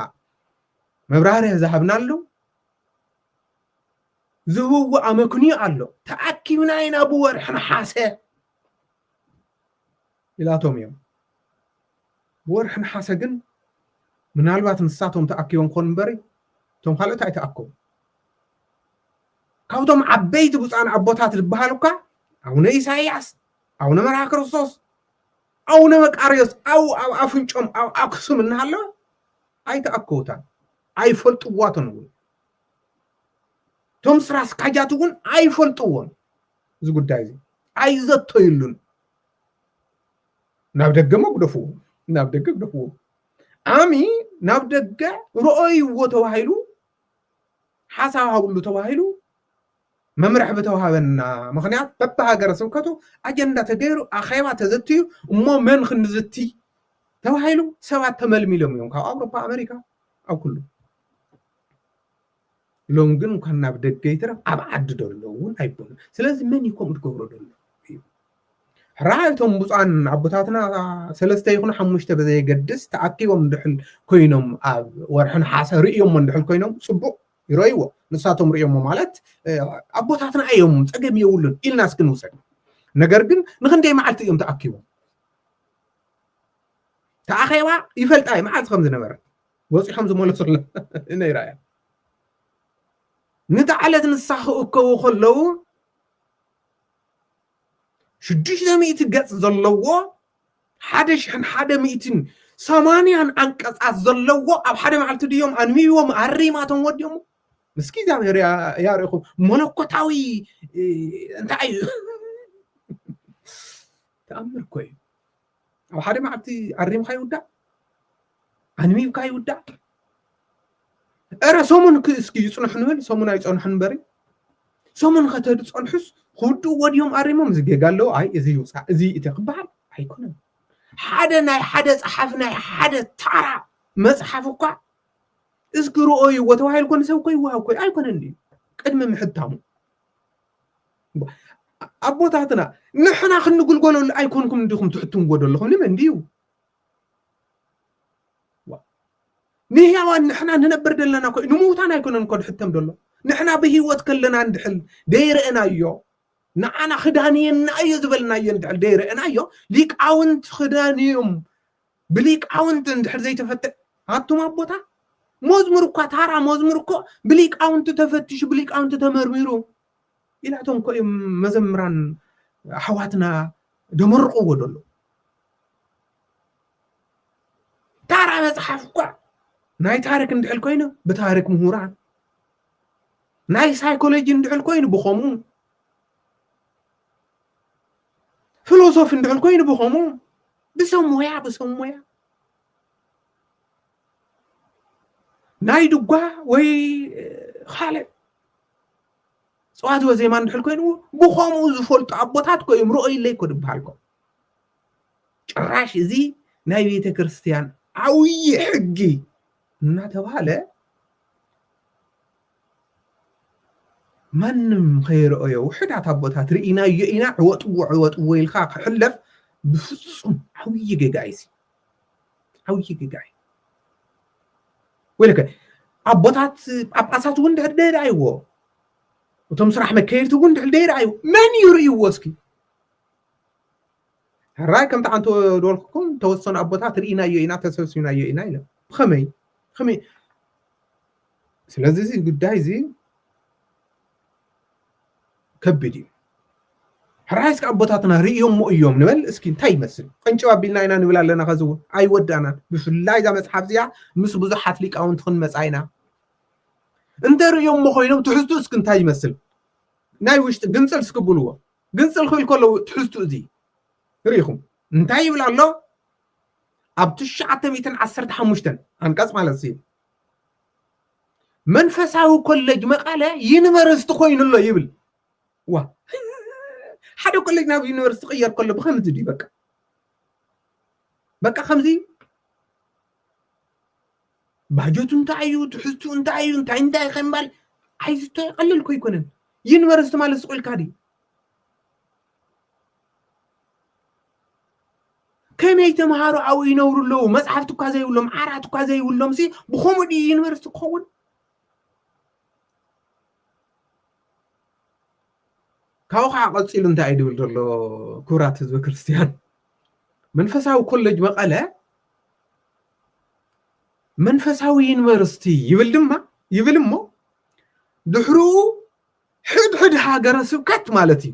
መብራህርህ ዝሃብናሉ ዝህብዎ ኣመክንዮ ኣሎ ተኣኪብና ኢና ብወርሒ ነሓሰ ኢላቶም እዮም። ብወርሒ ነሓሰ ግን ምናልባት ንሳቶም ተኣኪቦም ክኾኑ እምበሪ እቶም ካልኦት ኣይተኣከቡን። ካብቶም ዓበይቲ ብፁዓን ኣቦታት ዝበሃሉ እኳ ኣቡነ ኢሳይያስ፣ ኣቡነ መርሃ ክርስቶስ፣ ኣቡነ መቃርዮስ ኣብኡ ኣብ ኣፍንጮም ኣብ ኣክሱም እናሃለወ ኣይተኣከቡታን ኣይፈልጥዋቶን እውን እቶም ስራ ኣስካጃት እውን ኣይፈልጥዎን እዚ ጉዳይ እዚ ኣይዘተይሉን ናብ ደገ መጉደፍዎ ናብ ደገ ግደፍዎ ዓሚ ናብ ደገ ርኦይዎ ተባሂሉ ሓሳብ ሃብሉ ተባሂሉ መምርሒ ብተዋሃበና ምክንያት በብሃገረ ስብከቱ ኣጀንዳ ተገይሩ ኣኼባ ተዘትዩ እሞ መን ክንዝቲ ተባሂሉ ሰባት ተመልሚሎም እዮም ካብ ኣውሮፓ ኣሜሪካ ኣብ ኩሉ ሎም ግን እንኳን ናብ ደገ ይትረፍ ኣብ ዓዲ ደሎ እውን ኣይበሉን ስለዚ መን እዩ ከምኡ ትገብሮ ደሎ እዩ ራኣ እቶም ብፁዓን ኣቦታትና ሰለስተ ይኹኑ ሓሙሽተ ብዘየገድስ ተኣኪቦም እንድሕል ኮይኖም ኣብ ወርሒ ነሓሰ ርእዮሞ እንድሕል ኮይኖም ፅቡቅ ይረእይዎ ንሳቶም ርእዮሞ ማለት ኣቦታትና እዮም ፀገም የብሉን ኢልና እስኪ ንውሰድ ነገር ግን ንክንደይ መዓልቲ እዮም ተኣኪቦም ተኣኼባ ይፈልጣ እዩ መዓልቲ ከም ዝነበረት ወጺሖም ዝመለሱላ ነይራ እያ ንታ ዕለት ንሳ ክእከቡ ከለዉ ሽዱሽተ ሚእቲ ገጽ ዘለዎ ሓደ ሽሕን ሓደ ሚእትን ሰማንያን ዓንቀጻት ዘለዎ ኣብ ሓደ መዓልቲ ድዮም ኣንቢቦም ኣሪማቶም ወዲኦም ምስኪ እግዚኣብሔር ያርእኹ መለኮታዊ እንታይ እዩ ተኣምር እኮ እዩ ኣብ ሓደ መዓልቲ ኣሪምካ ይውዳእ ኣንቢብካ ይውዳእ እረ ሰሙን እስኪ ይፅንሑ ንበል ሰሙን ኣይፀንሑ ንበሪ ሰሙን ከተድፀንሑስ ክውድእዎ ድዮም ኣሪሞም እዚ ጌጋ ኣለዎ ኣይ እዚ ይውፃእ እዚ እቲ ክበሃል ኣይኮነን ሓደ ናይ ሓደ ፀሓፊ ናይ ሓደ ታራ መፅሓፍ እኳ እስኪ ርኦይዎ ተባሂሉ ኮን ሰብ እኮ ይወሃብ ኮ ኣይኮነን እዩ ቅድሚ ምሕታሙ ኣቦታትና ንሕና ክንግልገለሉ ኣይኮንኩም እንዲኹም ትሕትምዎ ዘለኹም ንመን ድዩ ንህያዋን ንሕና ንነብር ዘለና ኮ ንምውታን ኣይኮነን ኮ ድሕተም ደሎ ንሕና ብህይወት ከለና እንድሕል ደይረአናዮ ንዓና ክዳንየና እዩ ዝበልናዮ እንድሕል ደይረአናዮ ሊቃውንት ክዳንዮም ብሊቃውንት እንድሕር ዘይተፈተ ኣቱም ኣቦታት መዝሙር እኳ ታራ መዝሙር እኮ ብሊቃውንቲ ተፈቲሹ ብሊቃውንቲ ተመርሚሩ ኢላቶም እኮ እዮም መዘምራን ኣሕዋትና ደመርቕዎ ደሎ ታራ መፅሓፍ እኳ ናይ ታሪክ እንድሕል ኮይኑ ብታሪክ ምሁራን ናይ ሳይኮሎጂ እንድሕል ኮይኑ ብኸምኡ ፊሎሶፊ እንድሕል ኮይኑ ብኸምኡ ብሰብ ሞያ ብሰብ ሞያ ናይ ድጓ ወይ ካልእ ጸዋትወ ዜማ እንድሕር ኮይኑዎ ብኸምኡ ዝፈልጡ ኣቦታት ኮ እዮም ርኦይለይ ኮ ድበሃልኮ ጭራሽ እዚ ናይ ቤተ ክርስቲያን ዓብዪ ሕጊ እናተባህለ ማንም ከይረኦዮ ውሕዳት ኣቦታት ርኢናዮ ኢና ዕወጥዎ ዕወጥዎ ኢልካ ክሕለፍ ብፍፁም ዓብዪ ጌጋ እዩ ዓብዪ ጌጋ እዩ ወይለከ ኣቦታት ጳጳሳት እውን ድሕር ደይረኣይዎ እቶም ስራሕ መከየድቲ እውን ድሕር ደይረኣዩ መን እዩ ርእይዎ እስኪ ሕራይ ከምቲ ኣንተ ዶልኩም ተወሰኑ ኣቦታት ርኢናዮ ኢና ተሰብሲብናዮ ኢና ኢለ ብኸመይ ብኸመይ ስለዚ እዚ ጉዳይ እዚ ከቢድ እዩ ሕራይ እስኪ ኣቦታትና ርእዮሞ እዮም ንበል እስኪ እንታይ ይመስል ቀንጭብ ኣቢልና ኢና ንብል ኣለና ከዚ እውን ኣይወዳእናን ብፍላይ እዛ መፅሓፍ እዚኣ ምስ ብዙሓት ሊቃውንቲ ክንመፃ ኢና እንተ ርእዮሞ ኮይኖም ትሕዝቱ እስኪ እንታይ ይመስል ናይ ውሽጢ ግንፅል እስኪ ብልዎ ግንፅል ክብል ከለዉ ትሕዝቱ እዚ ርኢኹም እንታይ ይብል ኣሎ ኣብ ትሽዓተ ሚእትን ዓሰርተ ሓሙሽተን ኣንቀፅ ማለት እዩ መንፈሳዊ ኮሌጅ መቐለ ዩኒቨርሲቲ ኮይኑ ኣሎ ይብል ዋ ሓደ ኮሌጅ ናብ ዩኒቨርሲቲ ቅየር ከሎ ብከምዚ ድዩ በቃ በቃ ከምዚ ባጀቱ እንታይ እዩ ትሕዝቱ እንታይ እዩ እንታይ እንታይ ከምባል ኣይዝቶ ቀልል ኮ ኣይኮነን ዩኒቨርሲቲ ማለት ስቁልካ ድዩ ከመይ ተምሃሮ ኣብኡ ይነብሩ ኣለዉ መፅሓፍቲ እኳ ዘይብሎም ዓራት እኳ ዘይብሎም ሲ ብከምኡ ድዩ ዩኒቨርስቲ ክኸውን ካብኡ ከዓ ቀፂሉ እንታይ እዩ ድብል ዘሎ ክብራት ህዝበ ክርስትያን መንፈሳዊ ኮሌጅ መቐለ መንፈሳዊ ዩኒቨርስቲ ይብል ድማ ይብል እሞ ድሕርኡ ሕድሕድ ሃገረ ስብከት ማለት እዩ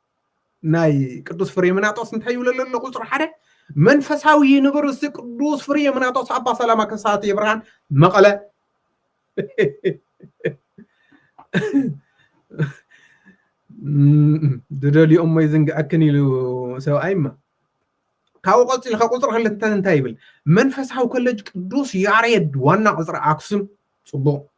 ናይ ቅዱስ ፍሬምናጦስ እንታይ ይብለ ኣሎ ቁፅሪ ሓደ መንፈሳዊ ዩኒቨርሲቲ ቅዱስ ፍሬምናጦስ ኣባ ሰላማ ከሳቴ ብርሃን መቐለ ድደልኦሞ ይዝንግዐክን ኢሉ ሰብኣይማ ካብኡ ቀፂሉ ካብ ቁፅሪ ክልተ እንታይ ይብል መንፈሳዊ ኮሌጅ ቅዱስ ያሬድ ዋና ቅፅሪ ኣክሱም ፅቡቅ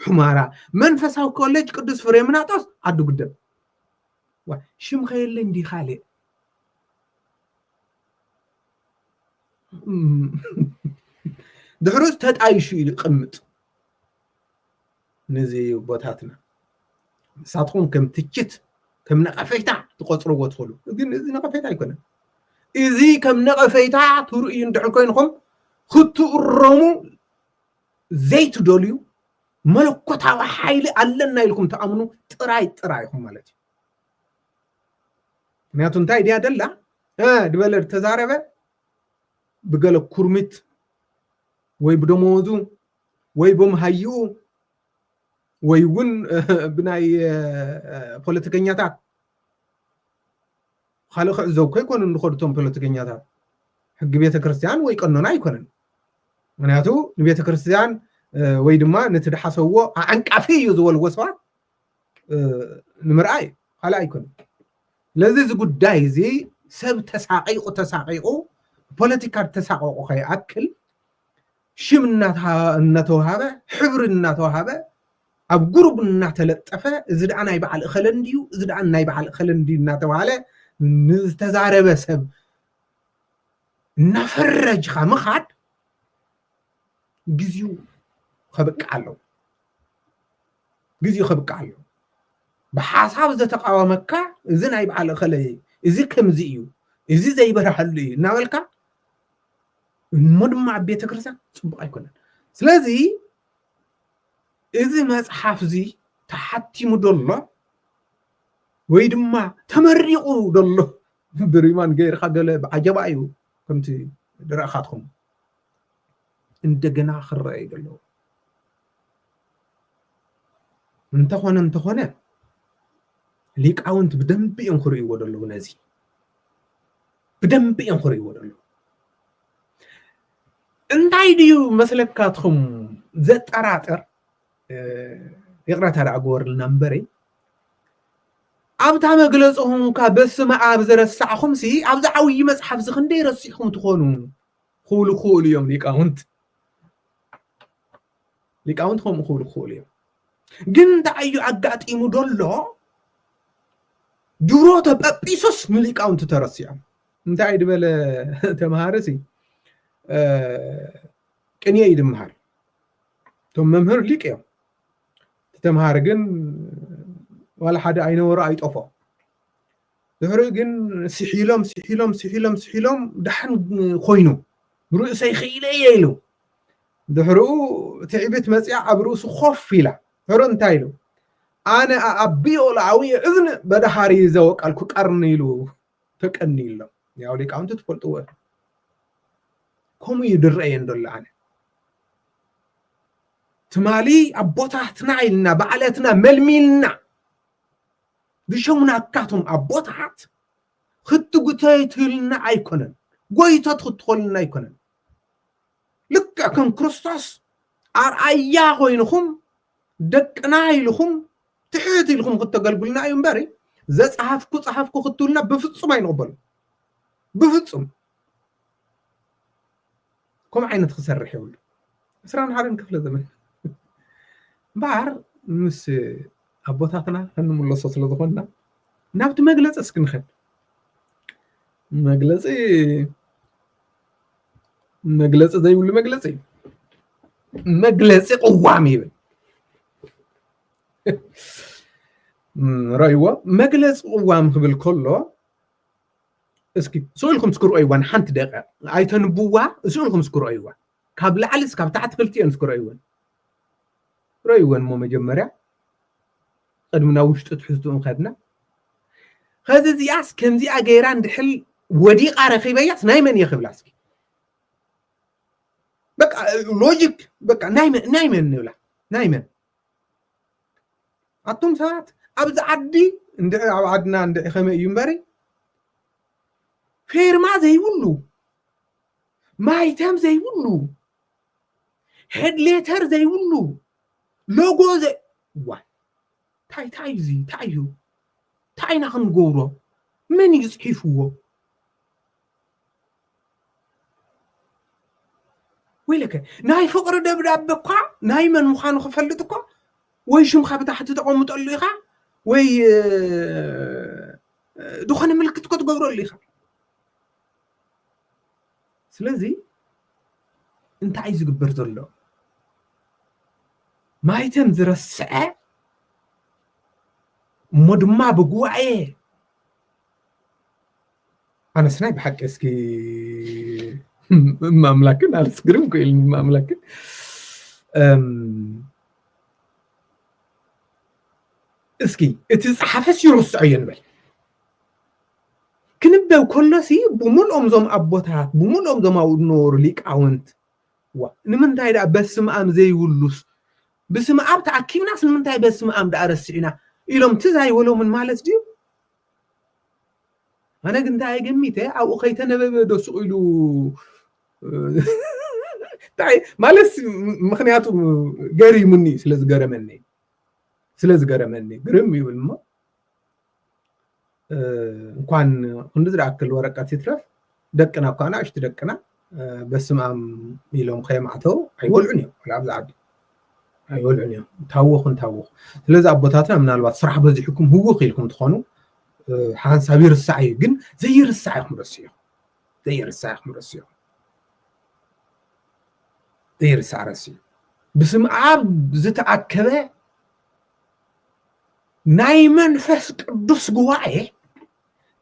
ሑመራ መንፈሳዊ ኮሌጅ ቅዱስ ፍሬምናጦስ ዓዲ ጉደም ዋ ሽም ከየለ እንዲ ካልእ ድሕሩስ ተጣይሹ እዩ ይቕምጥ ነዚ ቦታትና ንሳትኩም ከም ትችት ከም ነቐፌታ ትቆፅርዎ ትኽእሉ ግን እዚ ነቐፌታ ኣይኮነን እዚ ከም ነቐፌታ ትርእዩ እንድሕር ኮይንኩም ክትእረሙ ዘይትደልዩ መለኮታዊ ሓይሊ ኣለና ኢልኩም ትኣምኑ ጥራይ ጥራይ ኢኹም ማለት እዩ ምክንያቱ እንታይ ድያ ደላ ድበለ ተዛረበ ብገለ ኩርሚት ወይ ብደመወዙ ወይ ብምሃይኡ ወይ እውን ብናይ ፖለቲከኛታት ኻልእ ክዕዘቡ ከይኮኑ ዝኸዱ እቶም ፖለቲከኛታት ሕጊ ቤተክርስትያን ወይ ቀኖና ኣይኮነን ምክንያቱ ንቤተክርስትያን ወይ ድማ ነቲ ድሓሰዎ ኣዕንቃፊ እዩ ዝበልዎ ሰባት ንምርኣይ እዩ ካልእ ኣይኮነን ስለዚ እዚ ጉዳይ እዚ ሰብ ተሳቂቑ ተሳቂቑ ፖለቲካ ተሳቀቑ ከይኣክል ሽም እናተዋሃበ ሕብሪ እናተዋሃበ ኣብ ጉሩብ እናተለጠፈ እዚ ደኣ ናይ በዓል እኸለ እንድዩ እዚ ደኣ ናይ በዓል እኸለ እንድዩ እናተባህለ ንዝተዛረበ ሰብ እናፈረጅካ ምኻድ ግዜኡ ከብቅዕ ኣለዎ ግዜኡ ከብቅዕ ኣለዎ ብሓሳብ ዘተቃወመካ እዚ ናይ በዓል እኸለ እዚ ከምዚ እዩ እዚ ዘይበርሃሉ እዩ እናበልካ እሞ ድማ ኣብ ቤተ ክርስቲያን ፅቡቅ ኣይኮነን ስለዚ እዚ መጽሓፍ እዚ ተሓቲሙ ዶ ኣሎ ወይ ድማ ተመሪቑ ዶ ኣሎ ብሪማን ገይርካ ገለ ብዓጀባ እዩ ከምቲ ድረእኻትኩም እንደገና ክረአ እዩ ዘለዎ እንተኾነ እንተኾነ ሊቃውንት ብደንቢ እዮም ክርእይዎ ዘለዉ ነዚ ብደንቢ እዮም ክርእይዎ ዘለዉ እንታይ ድዩ መስለካትኹም ዘጠራጥር ይቕረታ ደኣ ግበሩልና እምበረይ ኣብታ መግለፅኹም እኳ በስመ ኣብ ዝረሳዕኹምሲ ኣብዚ ዓብዪ መፅሓፍ እዚ ክንደይ ረሲዕኹም ትኾኑ ክብሉ ክኽእሉ እዮም ሊቃውንት ሊቃውንት ከምኡ ክብሉ ክኽእሉ እዮም ግን እንታይ እዩ ኣጋጢሙ ደሎ ድሮ ተጰጲሶስ ንሊቃውንቲ ተረሲዖም እንታይ ድበለ ተምሃርሲ ቅንየ እዩ ድምሃር እቶም መምህር ሊቅ እዮም ተምሃር ግን ዋላ ሓደ ኣይነበሮ ኣይጠፎ ድሕሪ ግን ስሒሎም ስሒሎም ስሒሎም ስሒሎም ዳሕን ኮይኑ ብርእሰይ ክኢለ እየ ኢሉ ድሕርኡ ትዕቢት መፅያ ኣብ ርእሱ ኮፍ ኢላ ሕሩ እንታይ ኢሉ ኣነ ኣኣቢዮ ለኣዊ እዝን በዳሃሪ ዘወቀልኩ ቀርኒ ኢሉ ተቀንዩ ኣሎ ያው ሊቃውንቲ ትፈልጥዎ ኢኹም ከምኡ እዩ ዝረአየን ዘሎ ኣነ ትማሊ ኣቦታትና ኢልና ባዕለትና መልሚልና ዝሸሙናካቶም ኣቦታት ክትጉተትልና ኣይኮነን ጎይቶት ክትኾንና ኣይኮነን ልክዕ ከም ክርስቶስ ኣርኣያ ኮይንኹም ደቅና ኢልኹም ትሕት ኢልኹም ክተገልግሉና እዩ እምበር ዘፀሃፍኩ ፀሃፍኩ ክትብሉና ብፍፁም ኣይንቕበሉ ብፍፁም ከምኡ ዓይነት ክሰርሕ የብሉ ዕስራን ሓደን ክፍለ ዘመን እምበኣር ምስ ኣቦታትና ክንምለሶ ስለ ዝኾንና ናብቲ መግለፂ እስኪ ንኸድ መግለፂ መግለፂ ዘይብሉ መግለፂ እዩ መግለፂ ቅዋም ይብል ረእይዎ መግለፂ ቅዋም ክብል ከሎ እስኪ ስእልኩም እስኪ ረእይዋ ንሓንቲ ደቂቕ ኣይተንብዋ ስእልኩም እስኪ ረእይዋ ካብ ላዕሊ እስካብ ታሕቲ ክልቲኦን እስኪ ረእይወን ረእይወን እሞ መጀመርያ ቕድሚ ናብ ውሽጢ ትሕዝትኡን ኸድና ኸዚ እዚኣስ ከምዚኣ ገይራ እንድሕል ወዲቓ ረኺበያስ ናይ መን እየ ክብላ እስኪ በቃ ሎጂክ በቃ ናይ መን ናይ መን ንብላ ናይ መን ኣቱም ሰባት ኣብዚ ዓዲ እንድዒ ኣብ ዓድና እንድዒ ከመይ እዩ እምበሪ ፌርማ ዘይብሉ ማይተም ዘይብሉ ሄድሌተር ዘይብሉ ሎጎ ዘይ ዋይ እንታይ እንታይ እዩ እዚ እንታይ እዩ እንታይ ኢና ክንገብሮ መን እዩ ፅሒፍዎ ወይለከ ናይ ፍቅሪ ደብዳቤ እኳ ናይ መን ምዃኑ ክፈልጥ እኳ ወይ ሽምካ ብታሕቲ ተቐምጠሉ ኢኻ ወይ ዝኾነ ምልክት እኮ ትገብረሉ ኢኻ ስለዚ እንታይ እዩ ዝግበር ዘሎ ማይተም ዝረስዐ እሞ ድማ ብጉባኤ ኣነስ ናይ ብሓቂ እስኪ ማምላክን ኣነስ ግርም ኮይል ማምላክን እስኪ እቲ ዝፀሓፈስ ይርስዖ እየ ንበል ክንበብ ከሎሲ ብምልኦም እዞም ኣቦታት ብምልኦም እዞም ኣብኡ ዝነበሩ ሊቃውንት ዋ ንምንታይ ደኣ በስምኣም ዘይብሉስ ብስምኣብ ተኣኪብናስ ንምንታይ በስምኣም ደኣ ረሲዕና ኢሎም ትዝ ኣይበሎምን ማለት ድዩ? ኣነ ግን እንታይ ገሚተ ኣብኡ ከይተነበበ ዶ ስቕ ኢሉ እንታይ ማለት ምክንያቱ ገሪሙኒ ስለ ዝገረመኒ ስለ ዝገረመኒ ግርም ይብል እሞ እንኳን ክንዲ ዝደኣክል ወረቀት ይትረፍ ደቅና እኳ ንኣሽቱ ደቅና በስማም ኢሎም ከየማዕተው ኣይወልዑን እዮም ወላ ኣብዚ ዓዲ ኣይወልዑን እዮም ታወኹ እንታወኹ ስለዚ ኣቦታትና ምናልባት ስራሕ በዚሕኩም ህውኽ ኢልኩም ትኾኑ ሓንሳብ ይርሳዕ እዩ ግን ዘይርሳዕ ኢኹም ረስዮ ዘይርሳዕ ኢኹም ረስዮ ዘይርሳዕ ረስዩ ብስም ኣብ ዝተኣከበ ናይ መንፈስ ቅዱስ ጉባኤ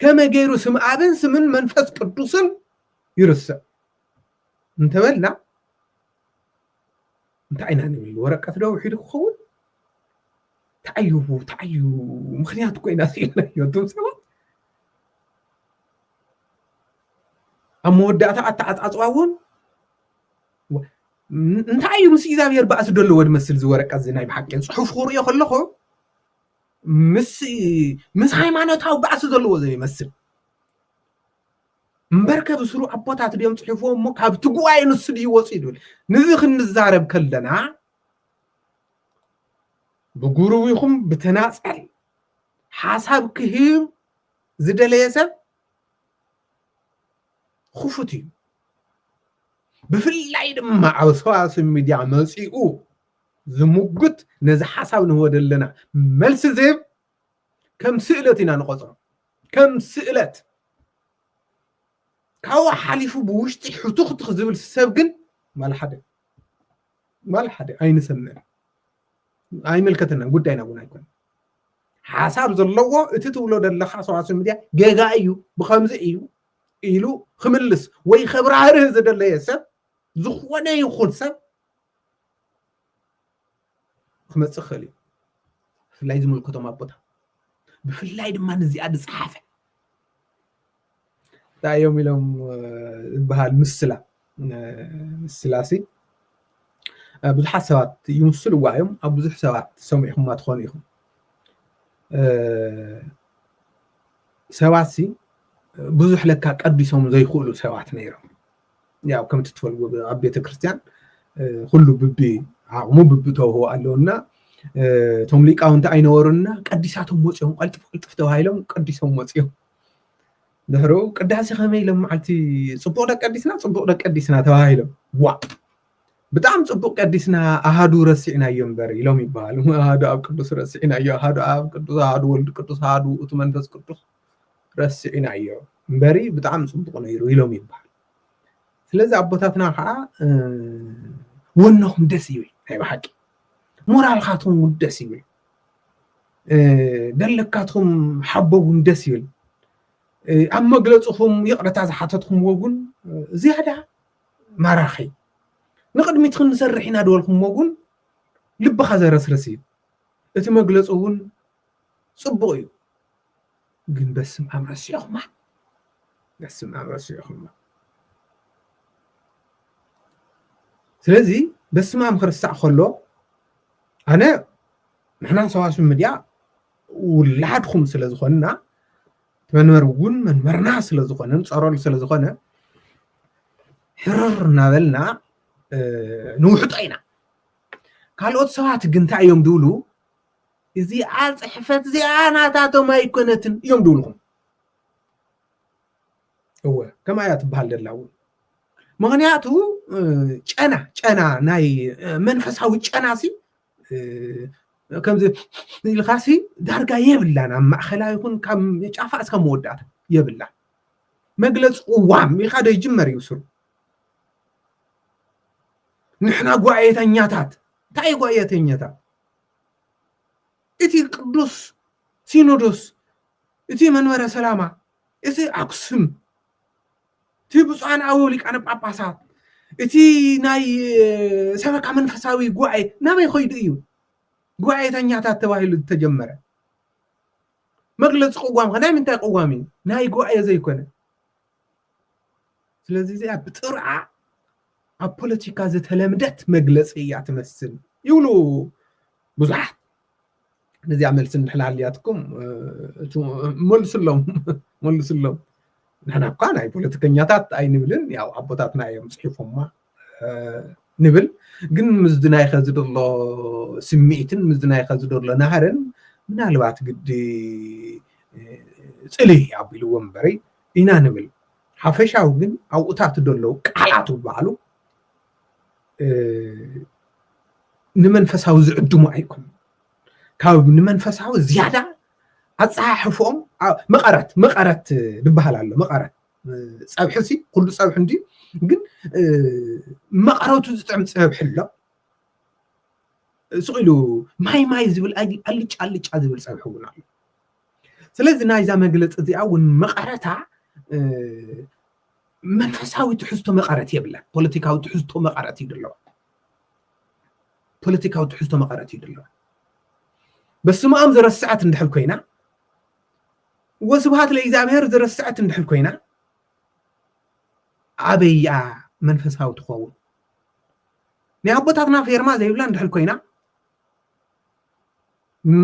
ከመይ ገይሩ ስም ኣብን ስምን መንፈስ ቅዱስን ይርስዕ እንተበልና እንታይ ኢና ንብል ወረቀት ዶ ውሒዱ ክኸውን እንታይ እዩ እንታይ እዩ ምክንያት ኮይና ስኢልናዮ እቶም ሰባት ኣብ መወዳእታ ኣተዓፃፅዋ እውን እንታይ እዩ ምስ እግዚኣብሔር ባእ ዝደሎ ወድ መስል ዝወረቀ እዚ ናይ ብሓቂ ፅሑፍ ክርእዮ ከለኹ ምስ ምስ ሃይማኖታዊ ባእሲ ዘለዎ ዘይመስል እምበር ከብስሩ ኣቦታት ድዮም ፅሑፎ እሞ ካብቲ ጉባኤ ንሱ ድዩ ወፂ ይብል ንዚ ክንዛረብ ከለና ብጉሩብ ይኹም ብተናፀል ሓሳብ ክህብ ዝደለየ ሰብ ኹፉት እዩ ብፍላይ ድማ ኣብ ሰዋስብ ሚድያ መፂኡ ዝሙግት ነዚ ሓሳብ ንህቦ ዘለና መልሲ ዝህብ ከም ስእለት ኢና ንቆፅሮ ከም ስእለት ካብኡ ሓሊፉ ብውሽጢ ሕቱኽቱኽ ዝብል ሰብ ግን ማል ሓደ ማል ሓደ ኣይንሰምዕን ኣይምልከተናን ጉዳይና እውን ኣይኮነ ሓሳብ ዘለዎ እቲ ትብሎ ዘለካ ሰዋስው ሚድያ ጌጋ እዩ ብከምዚ እዩ ኢሉ ክምልስ ወይ ከብራህርህ ዝደለየ ሰብ ዝኾነ ይኹን ሰብ ክመፅእ ክኽእል እዩ ብፍላይ ዝምልከቶም ኣቦታ ብፍላይ ድማ ንዚኣ ዝፀሓፈ እንታይ እዮም ኢሎም ዝበሃል ምስላ ምስላሲ ብዙሓት ሰባት ይምስልዋ እዮም ኣብ ብዙሕ ሰባት ሰሚዕኹማ ትኾኑ ኢኹም ሰባት ሲ ብዙሕ ለካ ቀዲሶም ዘይኽእሉ ሰባት ነይሮም ያው ከምቲ ትፈልዎ ኣብ ቤተክርስትያን ኩሉ ብቢ ዓቕሙ ብቢ ተውህቦ ኣለውና እቶም ሊቃውንቲ ኣይነበሩና ቀዲሳቶም ወፂኦም ቀልጥፍ ቅልጥፍ ተባሂሎም ቀዲሶም ወፂኦም ድሕሩ ቅዳሴ ከመይ ኢሎም መዓልቲ ፅቡቅ ደቂ ቀዲስና ፅቡቅ ደቂ ቀዲስና ተባሂሎም ዋ ብጣዕሚ ፅቡቅ ቀዲስና ኣሃዱ ረሲዕናዮ እምበር ኢሎም ይበሃሉ ኣሃዱ ኣብ ቅዱስ ረሲዕናዮ ኣሃዱ ኣብ ቅዱስ ኣሃዱ ወልድ ቅዱስ ኣሃዱ እቲ መንፈስ ቅዱስ ረሲዕናዮ እምበሪ ብጣዕሚ ፅቡቅ ነይሩ ኢሎም ይበሃል ስለዚ ኣቦታትና ከዓ ወኖኹም ደስ ይብል ናይ ብሓቂ ሞራልካትኩም እውን ደስ ይብል ደለካትኩም ሓቦ እውን ደስ ይብል ኣብ መግለፅኹም ይቕረታ ዝሓተትኩምዎ እውን ዝያዳ ማራኺ ንቅድሚት ክንሰርሕ ኢና ድበልኩምዎ እውን ልብኻ ዘረስርስ እዩ እቲ መግለፂ እውን ፅቡቅ እዩ ግን በስምኣም ረሲዕኹማ በስምኣም ረሲዕኹማ ስለዚ በስምኣም ክርሳዕ ከሎ ኣነ ንሕና ሰዋስብ ሚድያ ውላድኹም ስለ ዝኾንና መንበር እውን መንበርና ስለ ዝኾነ ንፀረሉ ስለ ዝኾነ ሕርር እናበልና ንውሕጦ ኢና ካልኦት ሰባት ግን እንታይ እዮም ዝብሉ እዚኣ ጽሕፈት እዚኣ ናታቶም ኣይኮነትን እዮም ድብልኹም እወ ከምኣ እያ ትበሃል ደላ እውን ምክንያቱ ጨና ጨና ናይ መንፈሳዊ ጨና ሲ ከምዚ ኢልካ ሲ ዳርጋ የብላን ኣብ ማእኸላ ይኹን ካብ ጫፋ እስካብ መወዳእታ የብላ መግለፂ ቅዋም ኢልካ ዶ ይጅመር እዩ ስሩ ንሕና ጓየተኛታት እንታይ እዩ ጓየተኛታት እቲ ቅዱስ ሲኖዶስ እቲ መንበረ ሰላማ እቲ ኣክሱም እቲ ብፁዓን ኣበው ሊቃነ ጳጳሳት እቲ ናይ ሰበካ መንፈሳዊ ጉባኤ ናበይ ኮይዱ እዩ ጉባኤተኛታት ተባሂሉ ዝተጀመረ መግለፂ ቅዋም ከ ናይ ምንታይ ቅዋም እዩ ናይ ጉባኤ ዘይኮነ ስለዚ እዚኣ ብጥርዓ ኣብ ፖለቲካ ዝተለምደት መግለፂ እያ ትመስል ይብሉ ብዙሓት ነዚኣ መልሲ እንድሕላ ኣልያትኩም መልስሎም መልስሎም ንሕና እኳ ናይ ፖለቲከኛታት ኣይንብልን ያው ኣቦታትና እዮም ፅሒፎማ ንብል ግን ምስዚ ናይ ኸዚ ዘሎ ስምዒትን ምስዚ ናይ ኸዚ ዘሎ ናህርን ምናልባት ግዲ ፅሊ ኣቢልዎ እምበሪ ኢና ንብል ሓፈሻዊ ግን ኣብኡታት ዘለዉ ቃላት ዝበሃሉ ንመንፈሳዊ ዝዕድሙ ኣይኮኑ ካብ ንመንፈሳዊ ዝያዳ ኣፀሓሕፎም መቐረት መቐረት ዝበሃል ኣሎ መቐረት ፀብሒ ሲ ኩሉ ፀብሒ እንድዩ ግን መቐረቱ ዝጥዕም ፀብሒ ኣሎ ስቕ ኢሉ ማይ ማይ ዝብል ኣልጫ ኣልጫ ዝብል ፀብሒ እውን ኣሎ ስለዚ ናይዛ መግለፂ እዚኣ እውን መቐረታ መንፈሳዊ ትሕዝቶ መቐረት የብላ ፖለቲካዊ ትሕዝቶ መቐረት እዩ ዘለዋ ፖለቲካዊ ትሕዝቶ መቐረት እዩ ዘለዋ በስመ ኣም ዘረስዐት እንድሕር ኮይና ወስብሃት ለእግዚኣብሔር ዝረስዐት እንድሕር ኮይና ኣበይ እያ መንፈሳዊ ትኸውን? ናይ ኣቦታትና ፌርማ ዘይብላ እንድሕር ኮይና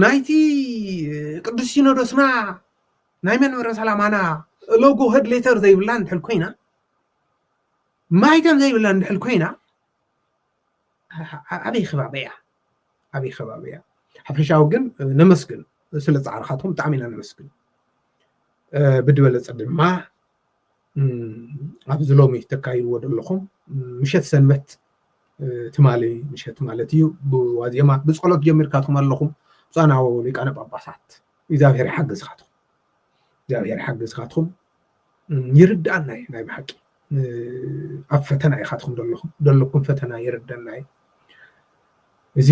ናይቲ ቅዱስ ሲኖዶስና ናይ መንበረ ሰላማና ሎጎ ሄድ ሌተር ዘይብላ እንድሕር ኮይና ማይተም ዘይብላ እንድሕር ኮይና ኣበይ ከባቢ እያ ኣበይ ከባቢ እያ ሓፈሻዊ ግን ነመስግን ስለ ፃዕርካትኩም ብጣዕሚ ኢና ነመስግን ብድበለፀ ድማ ኣብዚ ሎሚ ተካይድዎ ዘለኹም ምሸት ሰንበት ትማሊ ምሸት ማለት እዩ ብዋዜማ ብፀሎት ጀሚርካትኩም ኣለኹም ብፃናዎ ሊቃነ ጳጳሳት እግዚኣብሔር ይሓግዝካትኩም እግዚኣብሔር ይሓግዝካትኩም ይርድኣና እዩ ናይ ብሓቂ ኣብ ፈተና ኢኻትኩም ዘለኹም ዘለኩም ፈተና ይርደና እዩ እዚ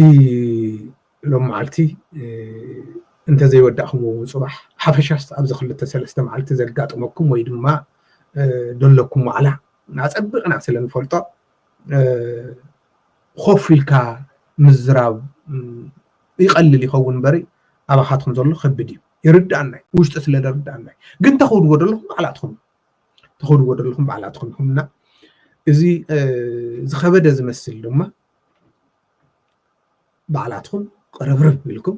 ሎም መዓልቲ እንተዘይወዳእኹም እውን ፅባሕ ሓፈሻስ ኣብዚ ክልተ ሰለስተ መዓልቲ ዘጋጥመኩም ወይ ድማ ዘለኩም ዋዕላ ኣፀቢቕና ስለ ንፈልጦ ኮፍ ኢልካ ምዝራብ ይቐልል ይኸውን እምበሪ ኣባኻትኩም ዘሎ ከብድ እዩ ይርድኣና እዩ ውሽጢ ስለ ዝርድኣና እዩ ግን ተኸውድዎ ዘለኹም ባዕላትኹም ተኸውድዎ ዘለኹም ባዕላትኹም ይኹምና እዚ ዝኸበደ ዝመስል ድማ ባዕላትኩም ቅርብርብ ኢልኩም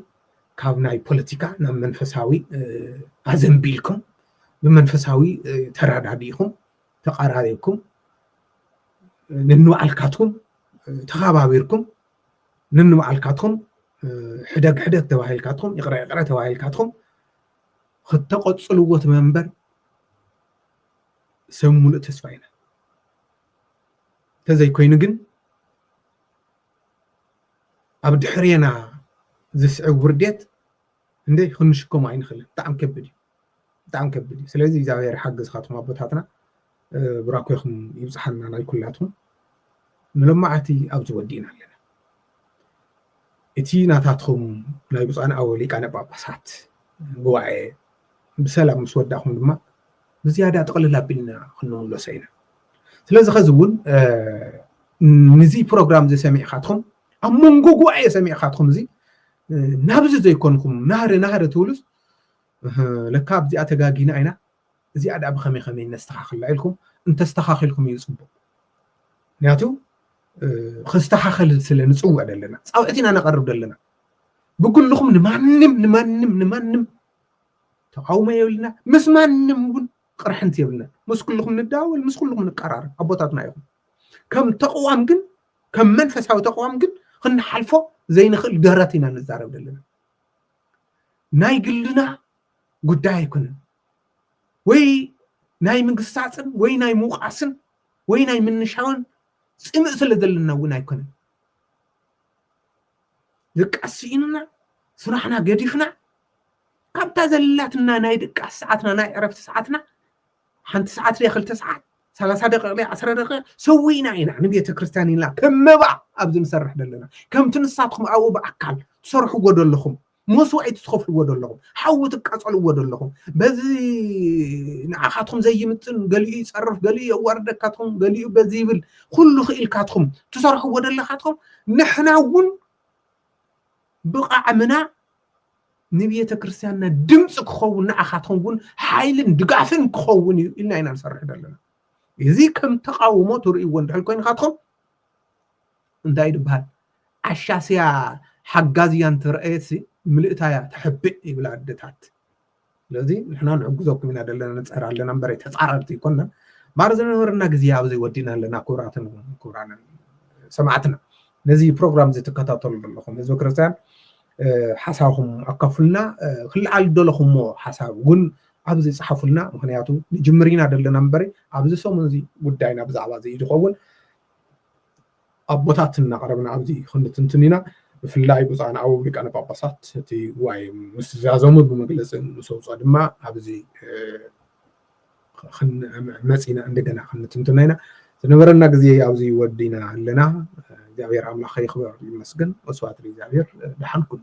ካብ ናይ ፖለቲካ ናብ መንፈሳዊ ኣዘንቢልኩም ብመንፈሳዊ ተረዳዲእኩም ተቀራሪብኩም ንንባዕልካትኩም ተኸባቢርኩም ንንባዕልካትኩም ሕደግ ሕደግ ተባሂልካትኩም ይቕረ ይቕረ ተባሂልካትኩም ክተቐፅልዎ ትመንበር ሰብ ሙሉእ ተስፋ ኢና እንተዘይኮይኑ ግን ኣብ ድሕሬና ዝስዕብ ውርዴት እንደ ክንሽከሞ ኣይንኽእልን ብጣዕሚ ከቢድ እዩ ብጣዕሚ ከቢድ እዩ ስለዚ እግዚኣብሔር ሓገዝካትኩም ኣቦታትና ብራኮይኹም ይብፅሓና ናይ ኩላትኩም ንሎማዓቲ ኣብዚ ወዲእና ኣለና እቲ ናታትኩም ናይ ብፁዓን ኣበው ሊቃነ ጳጳሳት ጉባኤ ብሰላም ምስ ወዳእኩም ድማ ብዝያዳ ጥቕልል ኣቢልና ክንምለሶ ኢና ስለዚ ከዚ እውን ንዚ ፕሮግራም እዚ ሰሚዕካትኩም ኣብ መንጎ ጉባኤ ሰሚዕካትኩም እዚ ናብዚ ዘይኮንኩም ናህሪ ናህሪ ትብሉስ እህ ለካ ኣብዚኣ ተጋጊና ኢና እዚኣ ድኣ ብከመይ ከመይ ነስተካክላ ኢልኩም እንተስተካኪልኩም እዩ ፅቡቅ ምክንያቱ ክስተካከል ስለ ንፅውዕ ዘለና ፃውዕት ኢና ነቀርብ ዘለና ብግልኹም ንማንም ንማንም ንማንም ተቃውሞ የብልና ምስ ማንም እውን ቅርሕንቲ የብልና ምስ ኩልኹም ንዳወል ምስ ኩልኹም ንቀራረብ ኣቦታትና ኢኹም ከም ተቕዋም ግን ከም መንፈሳዊ ተቕዋም ግን ክንሓልፎ ዘይንኽእል ደረት ኢና ንዛረብ ዘለና ናይ ግልና ጉዳይ ኣይኮነን ወይ ናይ ምግሳፅን ወይ ናይ ምውቃስን ወይ ናይ ምንሻውን ፅምእ ስለ ዘለና እውን ኣይኮነን ድቃስ ስኢኑና ስራሕና ገዲፍና ካብታ ዘላትና ናይ ድቃስ ሰዓትና ናይ ዕረፍቲ ሰዓትና ሓንቲ ሰዓት ድያ ክልተ ሰዓት ሰላሳ ደቂቕ ድያ ዓስረ ደቂቕ ሰዊእና ኢና ንቤተ ክርስቲያን ኢልና ከም መባ ኣብዚ ንሰርሕ ዘለና ከምቲ ንሳትኩም ኣብኡ ብኣካል ትሰርሕዎ ዘለኹም መስዋእቲ ትኸፍልዎ ዘለኹም ሓዊ ትቃፀልዎ ዘለኹም በዚ ንዓኻትኩም ዘይምጥን ገሊኡ ይፀርፍ ገሊኡ የዋርደካትኩም ገሊኡ በዚ ይብል ኩሉ ክኢልካትኩም ትሰርሕዎ ዘለኻትኩም ንሕና እውን ብቓዕምና ንቤተ ክርስቲያንና ድምፂ ክኸውን ንዓኻትኩም እውን ሓይልን ድጋፍን ክኸውን እዩ ኢልና ኢና ንሰርሕ ዘለና እዚ ከም ተቃውሞ ትርእይዎ እንድሕል ኮይንካትኩም እንታይ ድበሃል ዓሻስያ ሓጋዝያ እንተረኣየትሲ ምልእታያ ተሕብእ ይብላ ኣደታት ስለዚ ንሕና ንሕግዘኩም ኢና ዘለና ንፅዕር ኣለና እምበረ ተፃረርቲ ኣይኮንና ማር ዝነበረና ግዜ ኣብዚ ወዲና ኣለና ክብራትን ክብራንን ሰማዕትና ነዚ ፕሮግራም እዚ ትከታተሉ ዘለኹም ህዝቢ ክርስትያን ሓሳብኩም ኣካፍልና ክለዓል ደለኹሞ ሓሳብ እውን ኣብዚ ፀሓፉልና ምክንያቱ ንጅምር ኢና ዘለና እምበረ ኣብዚ ሰሙን እዚ ጉዳይና ብዛዕባ እዚ ዝኸውን ኣቦታት እናቕረብና ኣብዚ ክንትንትን ኢና። ብፍላይ ብፁዓን ኣበው ሊቃነ ጳጳሳት እቲ ጉባኤ ምስ ዛዘሙ ብመግለጺ ምስ ኣውጽኦ ድማ ኣብዚ መጺና እንደገና ክንትንትና ኢና። ዝነበረና ግዜ ኣብዚ ወዲና ኣለና። እግዚኣብሔር ኣምላኽ ይኽበር ይመስገን። ወስብሐት ለእግዚኣብሔር። ደሓን ኩኑ።